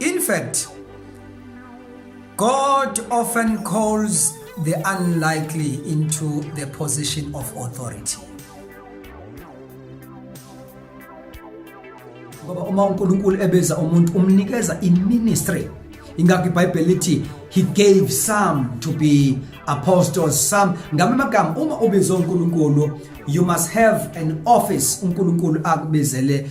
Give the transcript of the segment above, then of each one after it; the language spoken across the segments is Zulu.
In fact, God often calls the unlikely into the position of authority. Ngoba uma uNkulunkulu ebeza umuntu umnikeza iministry. Ingakho iBhayibheli lithi he gave some to be apostles some ngame magama uma ubizwa uNkulunkulu you must have an office uNkulunkulu akubizele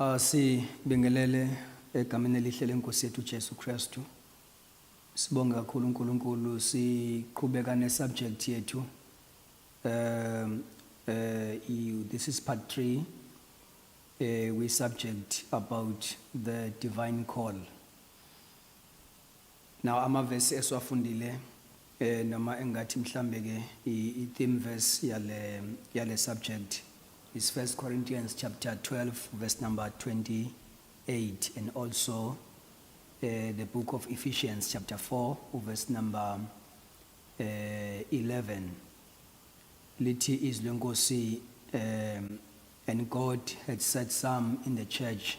Asibingelele egameni elihle lenkosi yethu Jesu Kristu. Sibonge kakhulu uNkulunkulu siqhubeka ne subject yethu. Um uh, this is part 3 uh, eh, we subject about the divine call. Now amavesi esiwafundile eh noma engathi mhlambe ke i theme verse yale yale subject is 1 Corinthians chapter 12 verse number 28 and also eh, the book of Ephesians chapter 4 verse number eh, 11 lithi izwi lenkosi um and God had set some in the church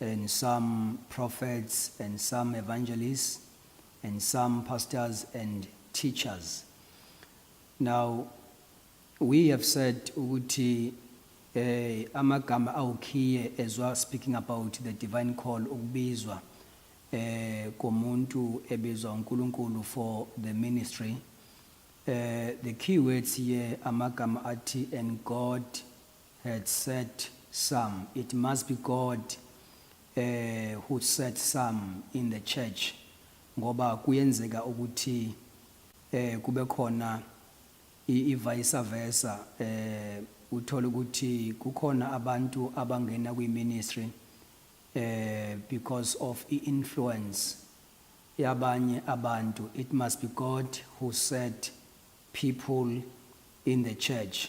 and some prophets and some evangelists and some pastors and teachers. Now, we have said ukuthi eh amagama awukhiye as well speaking about the divine call ukubizwa eh komuntu ebizwa uNkulunkulu for the ministry eh the key words here amagama athi and God had set some. It must be God uh, who set some in the church ngoba kuyenzeka ukuthi eh kube khona ivice versa eh uthola ukuthi kukhona abantu abangena kwi ministry eh because of i influence yabanye abantu it must be God who set people in the church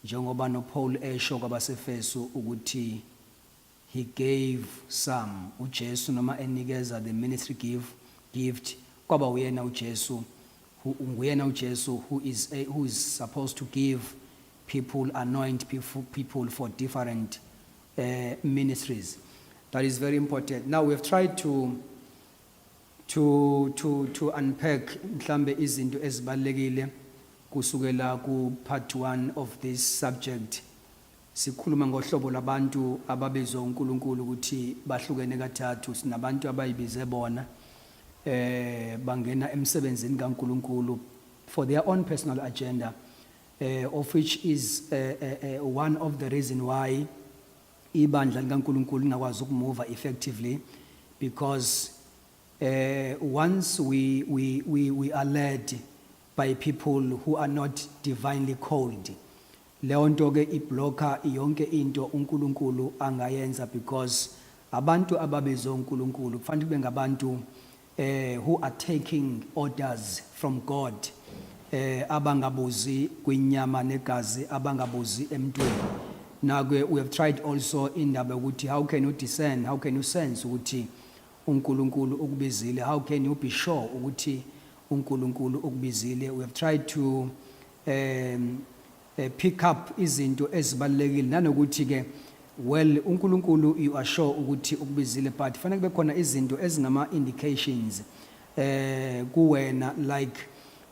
Njengoba no Paul esho kwabaseFesu ukuthi he gave some uJesu noma enikeza the ministry give gift kwaba uyena uJesu who nguyena uJesu who is a, who is supposed to give people anoint people for different uh, ministries that is very important now we have tried to to to to unpack mhlambe izinto ezibalekile kusukela ku part 1 of this subject sikhuluma ngohlobo labantu ababizwa uNkulunkulu ukuthi bahlukene kathathu sinabantu abayibize bona eh bangena emsebenzini kaNkulunkulu for their own personal agenda eh of which is uh, uh, uh, one of the reason why ibandla likaNkulunkulu lingakwazi ukumuva effectively because uh, once we, we, we, we are led by people who are not divinely called leyo nto ke iblocker yonke into uNkulunkulu angayenza because abantu ababizwe uNkulunkulu kufanele kube ngabantu eh who are taking orders from God eh abangabuzi kwinyama negazi abangabuzi emntwini nakwe we have tried also indaba ukuthi how can you discern how can you sense ukuthi uNkulunkulu ukubizile how can you be sure ukuthi uNkulunkulu ukubizile we have tried to um eh, pick up izinto ezibalulekile nanokuthi ke well uNkulunkulu you are sure ukuthi ukubizile but fanele kube khona izinto ezingama indications eh kuwena like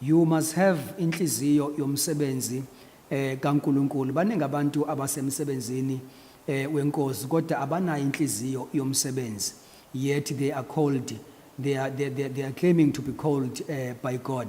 you must have inhliziyo yomsebenzi eh kaNkulunkulu baningi abantu abasemsebenzini eh wenkosi kodwa abanayo inhliziyo yomsebenzi yet they are called they are they, they, they are claiming to be called eh, by God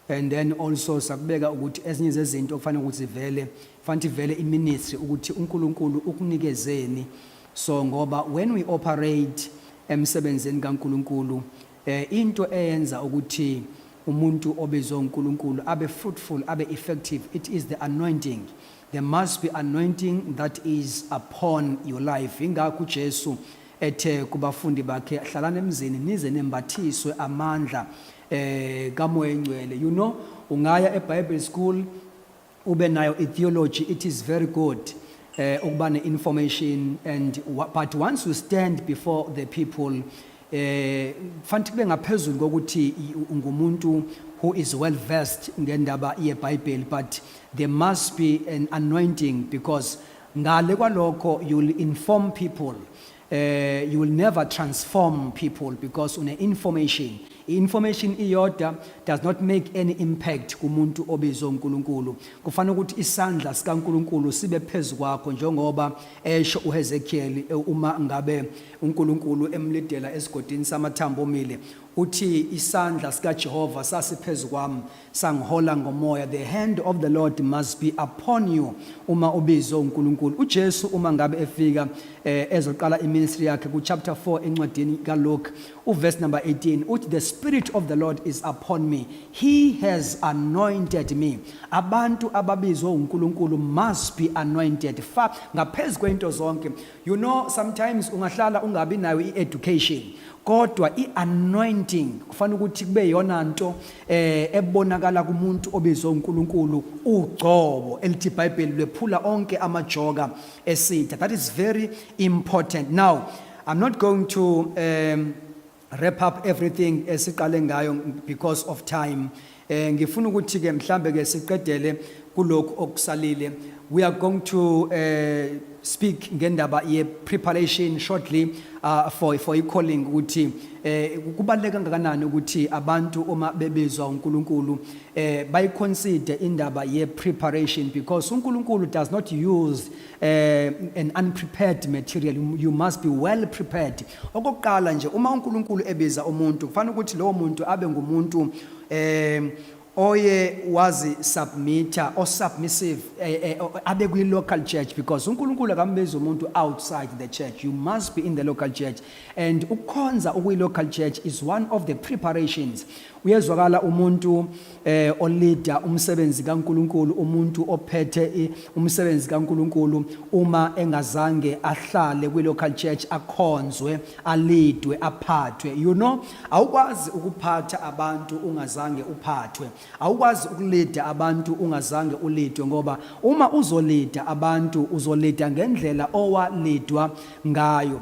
And then also sakubeka ukuthi ezinye zezinto okufanele ukuthi zivele, fanele ivele iministry ukuthi uNkulunkulu ukunikezeni. So ngoba when we operate emsebenzini kaNkulunkulu, eh into eyenza ukuthi umuntu obizwe uNkulunkulu abe fruitful, abe effective, it is the anointing. There must be anointing that is upon your life. Ingakho uJesu ethe kubafundi bakhe, hlalani emzini nize nembathiswe amandla. eh kamoya ingcwele you know ungaya eBible school ube nayo itheology it is very good eh ukuba neinformation and but once you stand before the people eh fanti kube ngaphezulu kokuthi ungumuntu who is well versed ngendaba yeBible but there must be an anointing because ngale kwalokho you'll inform people Uh, you will never transform people because une information i-information iyodwa does not make any impact kumuntu obizwe uNkulunkulu kufanele ukuthi isandla sikaNkulunkulu sibe phezu kwakho njengoba esho uHezekiel e, uma ngabe uNkulunkulu emlidela esigodini samathambo omile uthi isandla sikaJehova sasiphezu kwami sangihola ngomoya the hand of the lord must be upon you uma ubizwe uNkulunkulu uJesu uma ngabe efika eh, ezoqala iministry yakhe ku chapter 4 encwadini kaLuke uverse number 18 uthi the spirit of the lord is upon me he has anointed me abantu ababizwe uNkulunkulu must be anointed fa ngaphezulu kwento zonke You know sometimes ungahlala ungabi nayo i-education kodwa i-anointing kufanele ukuthi kube yona nto eh ebonakala kumuntu obizwe uNkulunkulu ugcobo elithi iBhayibheli lephula onke amajoka esitha that is very important now i'm not going to um wrap up everything esiqale ngayo because of time eh ngifuna ukuthi ke mhlambe ke siqedele kulokhu okusalile we are going to uh, speak ngendaba ye preparation shortly uh, for for i calling ukuthi eh kubaleka kangakanani ukuthi abantu uma bebizwa uNkulunkulu eh bayiconsider indaba ye preparation because uNkulunkulu does not use eh, an unprepared material you must be well prepared okokuqala nje uma uNkulunkulu ebiza umuntu kufanele ukuthi lowo muntu abe ngumuntu eh oye wazi submitter o submissive eh, eh, abe kwi local church because uNkulunkulu akambiza umuntu outside the church you must be in the local church and ukukhonza ukwi local church is one of the preparations uyezwakala umuntu eh olida umsebenzi kaNkuluNkulu umuntu ophethe umsebenzi kaNkuluNkulu uma engazange ahlale kwi local church akhonzwe alidwe aphathwe you know awukwazi ukuphatha abantu ungazange uphathwe awukwazi ukulida abantu ungazange ulidwe ngoba uma uzolida abantu uzolida ngendlela owalidwa ngayo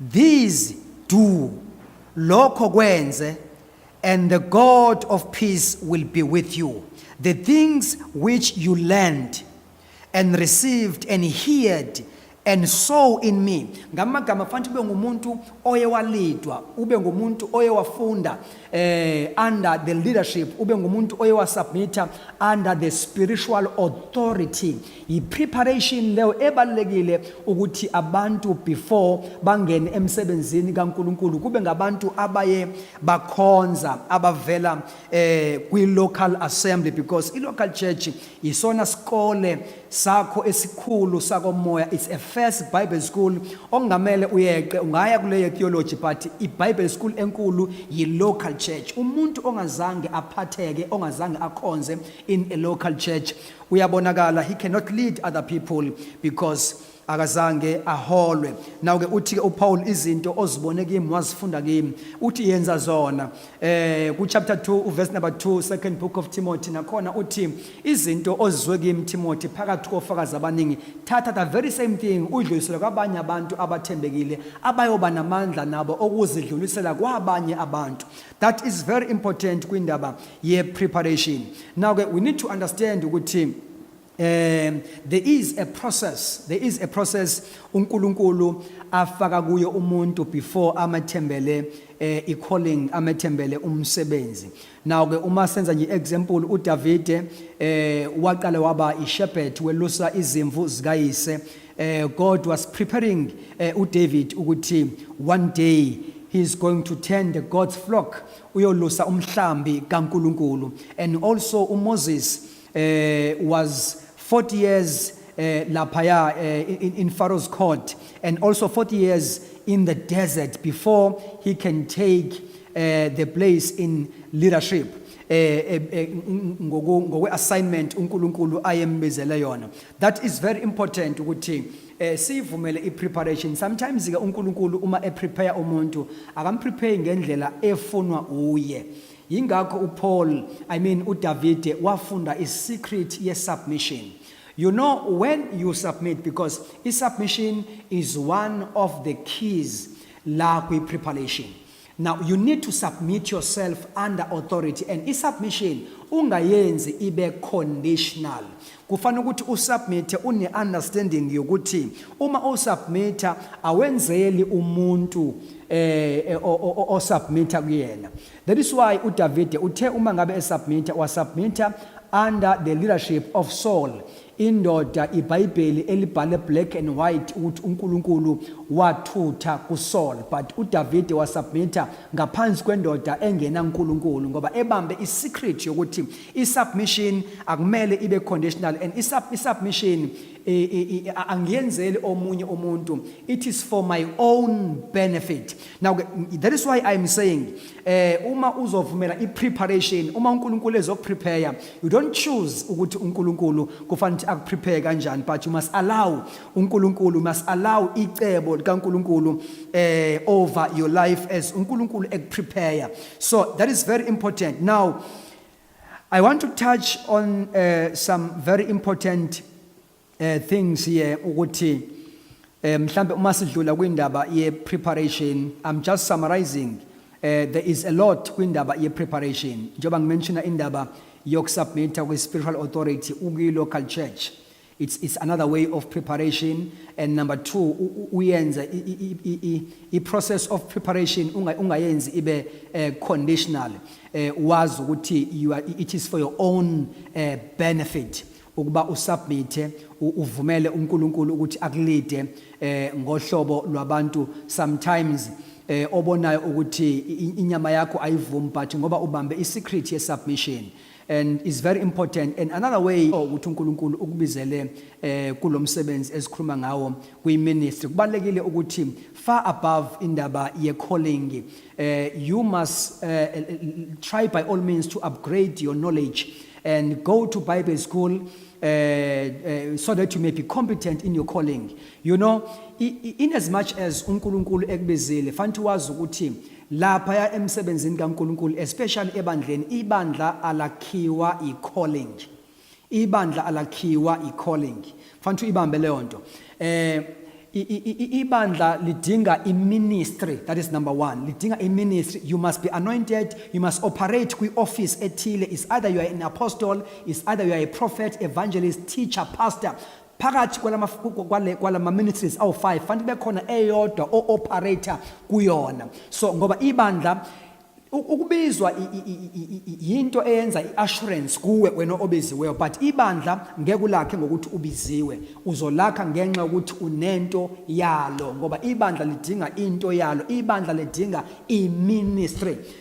These do lokho kwenze and the God of peace will be with you. The things which you learned and received and heard and saw in me ngamagama fanti ube ngumuntu oye walidwa ube ngumuntu oye wafunda eh under the leadership ube ngumuntu oye wasubmita under the spiritual authority yi preparation leyo ebalekile ukuthi abantu before bangene emsebenzini kaNkuluNkulu kube ngabantu abaye bakhonza abavela eh kwi local assembly because i local church isona sikole sakho esikhulu sakomoya it's a first bible school okungamele uyeqe ungaya kuleyo theology but ibible school enkulu yi-local church umuntu ongazange aphatheke ongazange akhonze in a local church uyabonakala he cannot lead other people because akazange aholwe nawo ke uthi ke uPaul izinto ozibone kimi wazifunda kimi uthi yenza zona eh ku chapter 2 u verse number 2 second book of Timothy nakhona uthi izinto ozizwe kimi Timothy phakathi kofakazi abaningi thatha the very same thing udlulisele kwabanye abantu abathembekile abayoba namandla nabo okuzidlulisela kwabanye abantu that is very important kwindaba ye preparation now ke we need to understand ukuthi Um, there is a process there is a process uNkulunkulu afaka kuyo umuntu before amathembele eh, i-calling amethembele umsebenzi now ke uma senza nje example uDavide eh waqala waba ishepherd welusa izimvu zikayise eh God was preparing eh, uDavid ukuthi one day he is going to tend the God's flock uyolusa umhlambi kaNkuluNkulu and also uMoses eh was 40 years eh laphaya eh, in, in Pharaoh's court and also 40 years in the desert before he can take eh, the place in leadership eh, eh, eh ngoku- ngokwe-assignment unkulunkulu ayembizele yona that is very important ukuthi eh, siyivumele i-preparation sometimes-ke unkulunkulu uma eprepare umuntu akamprepare ngendlela efunwa uye Yingakho uPaul, I mean uDavide wafunda isecret yesubmission. You know when you submit because isubmission is one of the keys la kwi preparation. Now you need to submit yourself under authority and isubmission ungayenzi ibe conditional. kufanele ukuthi usubmit une understanding yokuthi uma usubmit awenzeli umuntu eh, eh osubmit kuyena that is why uDavide uthe uma ngabe esubmit wasubmit under the leadership of Saul indoda iBhayibheli elibhale black and white ukuthi uNkulunkulu wathutha kuSaul but uDavide wasubmit ngaphansi kwendoda engena uNkulunkulu ngoba ebambe isecret yokuthi I-submission akumele ibe conditional and i-submission angiyenzeli omunye umuntu it is for my own benefit now that is why i'm saying eh uma uzovumela i-preparation uma uNkulunkulu ezokuprepare you don't choose ukuthi uNkulunkulu kufanele ukuthi akuprepare kanjani but you must allow uNkulunkulu must allow icebo likaNkulunkulu eh over your life as uNkulunkulu ekuprepare so that is very important now I want to touch on uh, some very important uh, things here ukuthi uh, mhlambe uma sidlula kwindaba ye preparation I'm just summarizing uh, there is a lot kwindaba ye preparation njengoba ngimenshina indaba yokusubmita kwi spiritual authority ukwi local church it's, it's another way of preparation and number two uyenza i-process of preparation ungayenzi ibe uh, conditional uh, wazi ukuthi you are, it is for your own uh, benefit ukuba usubmite uvumele uNkulunkulu ukuthi akulide eh ngohlobo lwabantu sometimes eh obonayo ukuthi inyama yakho ayivumi but ngoba ubambe isecret yesubmission and is very important and another way oh, ukuthi uNkulunkulu ukubizele eh kulomsebenzi esikhuluma ngawo kwi ministry kubalekile ukuthi far above indaba ye calling eh you must eh, eh, try by all means to upgrade your knowledge and go to bible school uh, uh, so that you may be competent in your calling you know in as much as uNkulunkulu ekubizile fanele wazi ukuthi Laphaya emsebenzini kaNkulunkulu especially ebandleni ibandla alakhiwa i calling. Ibandla alakhiwa i calling. Fanele uyibambe leyo nto. Eh ibandla lidinga iministry that is number 1 lidinga iministry you must be anointed you must operate kwi office ethile is either you are an apostle is either you are a prophet evangelist teacher pastor phakathi kwalama-ministries awu-five fanele kube khona eyodwa o-operator kuyona so ngoba ibandla ukubizwa yinto eyenza i-assurance kuwe wena obiziweyo but ibandla ngeke ulakhe ngokuthi ubiziwe uzolakha ngenxa yokuthi unento yalo ngoba ibandla lidinga into yalo ibandla lidinga i-ministry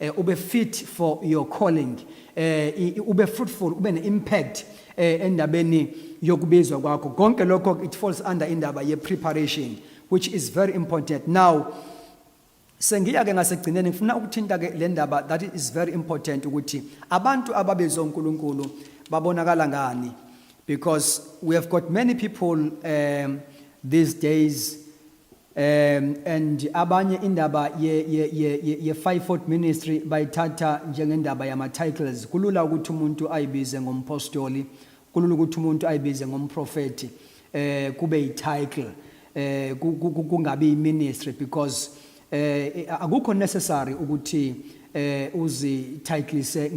eh, ube fit for your calling eh, ube fruitful ube ne-impact eh, endabeni yokubizwa kwakho konke lokho it falls under indaba ye-preparation which is very important now sengiya-ke ngasekugcineni ngifuna ukuthinta-ke le ndaba that is very important ukuthi abantu ababizwa unkulunkulu babonakala ngani because we have got many people um, these days Um, and abanye indaba ye, ye, ye, ye, ye five foot ministry bayithatha njengendaba yama-titles kulula ukuthi umuntu ayibize ngompostoli kulula ukuthi umuntu ayibize ngomprofethi eh kube yi-title eh kungabi yi-ministry because eh akukho necessary ukuthi eh uzititleise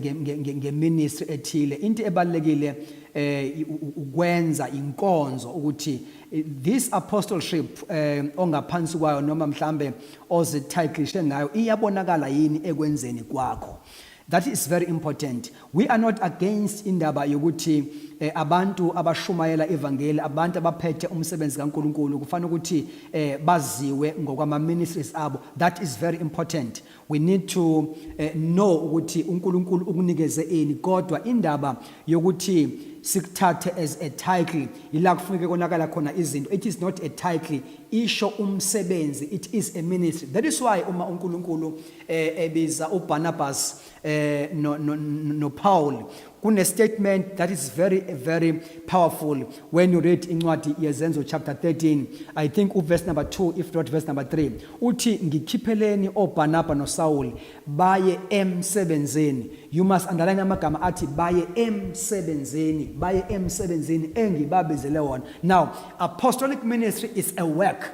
ngeministry ethile into ebalekile eh ukwenza inkonzo ukuthi eh, this apostleship eh ongaphansi kwayo noma mhlambe ozititlishe ngayo iyabonakala yini ekwenzeni kwakho that is very important we are not against indaba yokuthi eh, abantu abashumayela ivangeli abantu abaphethe umsebenzi kaNkuluNkulu kufanele ukuthi eh, baziwe ngokwama ministries abo that is very important We need to uh, know ukuthi uNkulunkulu ukunikeze ini kodwa indaba yokuthi sikuthathe as a title ila kufuneka konakala khona izinto it is not a title isho umsebenzi it is a ministry that is why uma uNkulunkulu eh, ebiza uBarnabas eh, no, no, no Paul kune statement that is very very powerful when you read incwadi yezenzo chapter 13 i think uverse number 2 if not verse number 3 uthi ngikhipheleni oBarnaba noSaul baye emsebenzini you must underline amagama athi baye emsebenzini baye emsebenzini engibabizele wona now apostolic ministry is a work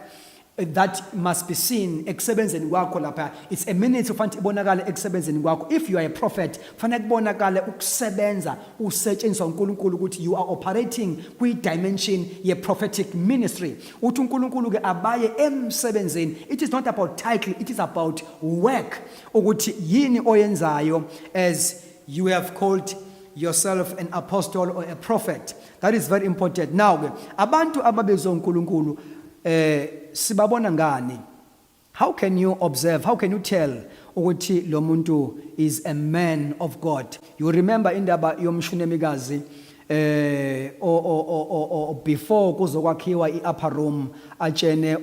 that must be seen ekusebenzeni kwakho lapha it's a minute ufanele ibonakale ekusebenzeni kwakho if you are a prophet fanele kubonakale ukusebenza usetshenziswa uNkulunkulu ukuthi you are operating kwi dimension ye prophetic ministry uthi uNkulunkulu ke abaye emsebenzini it is not about title it is about work ukuthi yini oyenzayo as You have called yourself an apostle or a prophet. That is very important. Now ke abantu ababezwe uNkulunkulu eh sibabona ngani? How can you observe? How can you tell ukuthi lo muntu is a man of God? You remember indaba yomshunemikazi eh o o o o before kuzokwakhiwa iupper room atshene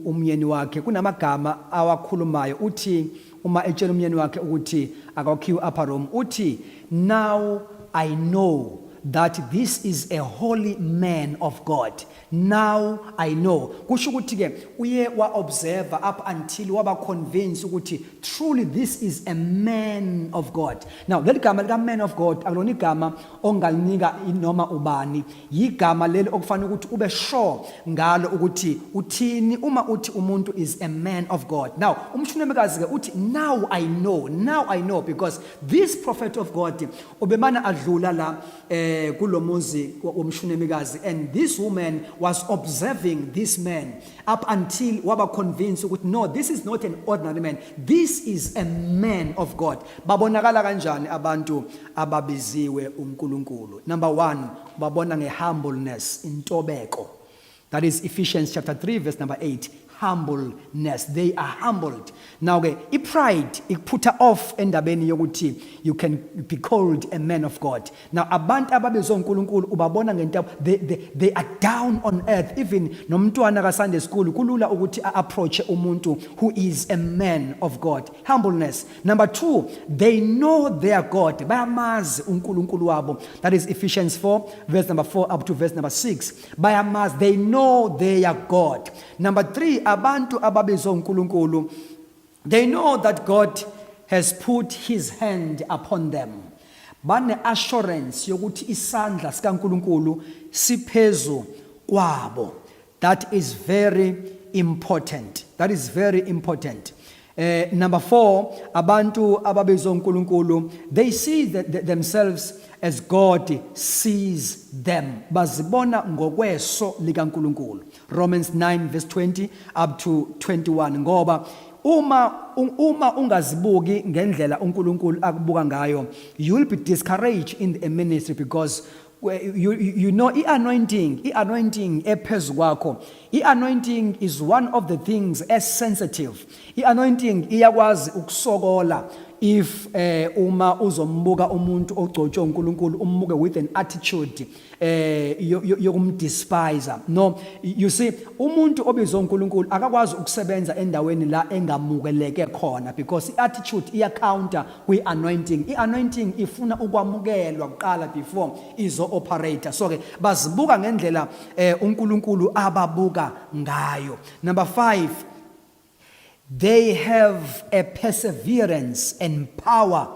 umyeni wakhe kunamagama awakhulumayo uthi uma etshela umyeni wakhe ukuthi akawakhiwe upper room uthi now i know that this is a holy man of God. Now I know. Kusho ukuthi ke uye wa observe up until waba convinced ukuthi truly this is a man of God. Now leli gama lika man of God akulona igama ongalinika noma ubani yigama leli okufanele ukuthi ube sure ngalo ukuthi uthini uma uthi umuntu is a man of God now umshunamikazi ke uthi now i know now i know because this prophet of God ubemana adlula la eh kulomuzi womshunamikazi and this woman was observing this man up until waba convinced ukuthi no this is not an ordinary man this is a man of God babonakala kanjani abantu ababiziwe uNkulunkulu. Number 1, ubabona ngehumbleness, intobeko. That is Ephesians chapter 3 verse number 8. Humbleness. They are humbled. Now ke ipride ikuphutha off endabeni yokuthi you can be called a man of God. Now abantu ababizwa uNkulunkulu ubabona ngentaba they, they, they are down on earth. Even nomntwana ka Sunday school kulula ukuthi approach umuntu who is a man of God. Humbleness. Number two, they know their God. Bayamazi uNkulunkulu wabo. That is Ephesians 4, verse number 4 up to verse number 6. Bayamazi, they know their God. Number three, abantu ababizwa uNkulunkulu. They know that God has put his hand upon them. Bane assurance yokuthi isandla sikaNkulunkulu siphezu kwabo. That is very important. That is very important. Uh, number four, abantu ababizwa uNkulunkulu, they see the, the, themselves as God sees them. Bazibona ngokweso likaNkulunkulu. Romans 9 verse 20 up to 21 ngoba uma uma ungazibuki ngendlela uNkulunkulu akubuka ngayo you'll be discouraged in the ministry because you, you know i-anointing i-anointing ephezu kwakho i-anointing is one of the things as sensitive i-anointing iyakwazi ukusokola if eh uma uzombuka umuntu ogcotshwe uNkulunkulu umbuke with an attitude eh yokumdespise no you see umuntu obizwa uNkulunkulu akakwazi ukusebenza endaweni la engamukeleke khona because iattitude iya counter kwi-anointing i-anointing ifuna ukwamukelwa kuqala before izo-operator so-ke bazibuka ngendlela eh, unkulunkulu ababuka ngayo number five they have a perseverance and power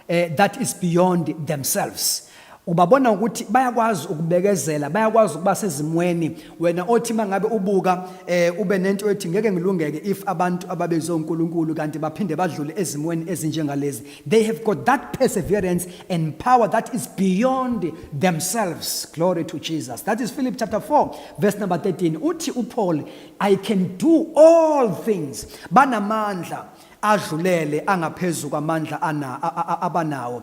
eh, that is beyond themselves Ubabona ukuthi bayakwazi ukubekezela, bayakwazi ukuba sezimweni. Wena othi mangabe ubuka eh ube nento ethi ngeke ngilungeke if abantu ababezwe uNkulunkulu kanti baphinde badlule ezimweni ezinjengalezi. They have got that perseverance and power that is beyond themselves. Glory to Jesus. That is Philip chapter 4 verse number 13. Uthi uPaul, I can do all things. Banamandla adlulele angaphezulu kwamandla ana abanawo.